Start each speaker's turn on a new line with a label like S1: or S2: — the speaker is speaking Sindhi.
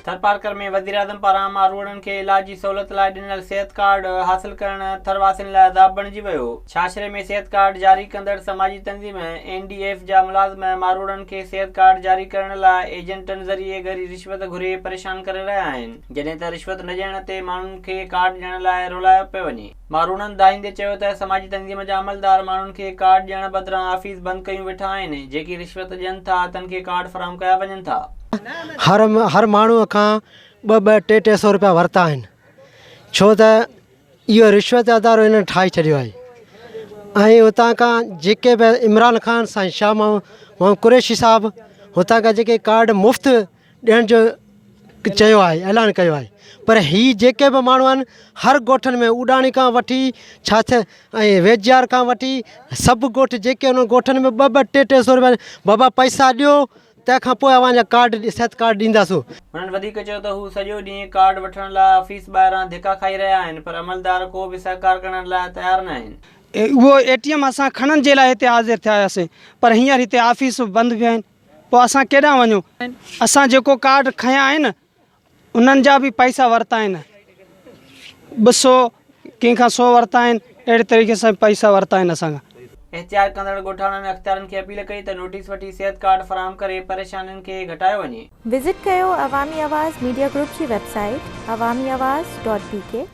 S1: ٿرپارڪر ۾ وزيراعظم پاران اما روئڙن کي علاج جي سهولت لاء ڏنل صحت ڪارڊ حاصل ڪرڻ ٿر واسين لاء عذاب بڻجي ويو، ڇاڇري ۾ صحت ڪارڊ جاري ڪندڙ سماجي تنظيم اين ڊي ايف جا ملازم ماروئڙن کي صحت ڪارڊ جاري ڪرڻ لاء ايجنٽن ذريعي ڳري رشوت گهري پريشان ڪري رهيا آهن، جڏهن ته رشوت نه ڏيڻ تي ماڻهن کي ڪارڊ ڏيڻ لاء رولايو پيو وڃي. ماروڻن دانهيندي چيو ته سماجي تنظيم جا عملدار ماڻهن کي ڪارڊ ڏيڻ بدران آفيس بند ڪيون ويٺا آهن، جيڪي رشوت ڏين ٿا تن کي ڪارڊ فراهم ڪيا وڃن ٿا. هر هر
S2: ماڻهو کان ٻه ٻه ٽي ٽي سئو روپيا ورتا آهن ڇو ته اهو رشوت جو ادارو هنن ٺاهي ڇڏيو آهي ۽ هتان کان جيڪي به عمران خان سائين شاهه محمد قريشي صاحب هتان کان جيڪي ڪارڊ مفت ڏيڻ جو چيو آهي اعلان ڪيو آهي پر هي جيڪي به ماڻهو آهن هر ڳوٺن ۾ اوڏاڻي کان وٺي ڇاڇ ۽ ويجهار کان وٺي سڀ ڳوٺ جيڪي انهن ڳوٺن ۾ ٻه ٻه ٽي ٽي سو روپيا بابا پئسا ڏيو تنهن کان پوء اوهان جا ڪارڊ صحت ڪارڊ ڏينداسون هنن وڌيڪ چيو ته
S1: هو سڄو ڏينهن ڪارڊ وٺڻ لاء آفيس ٻاهران ڌڪا کائي رهيا آهن پر عملدار ڪو به سهڪار ڪرڻ لاء تيار نه آهن. اهو اي ٽي ايم اسان
S3: کڻڻ جي لاء هتي حاضر ٿيا هياسين پر هينئر هتي آفيسون بند به آهن. پوء اسان ڪيڏانهن وڃون؟ اسان جيڪو ڪارڊ کنيا آهن، انهن جا به پئسا ورتا آهن. ٻه سو، ڪنهن کان سو ورتا آهن، اهڙي طريقي سان پئسا ورتا آهن اسان کان. احتياط ڪندڙ
S1: ڳوٺاڻن اختيارين کي اپيل ڪئي ته نوٽيس وٺي صحت ڪارڊ فراهم ڪري پريشانين کي گهٽايو وڃي. وزٽ ڪيو
S4: عوامي آواز ميڊيا گروپ جي web
S1: site
S4: Awami Awaz dot بي ڪي.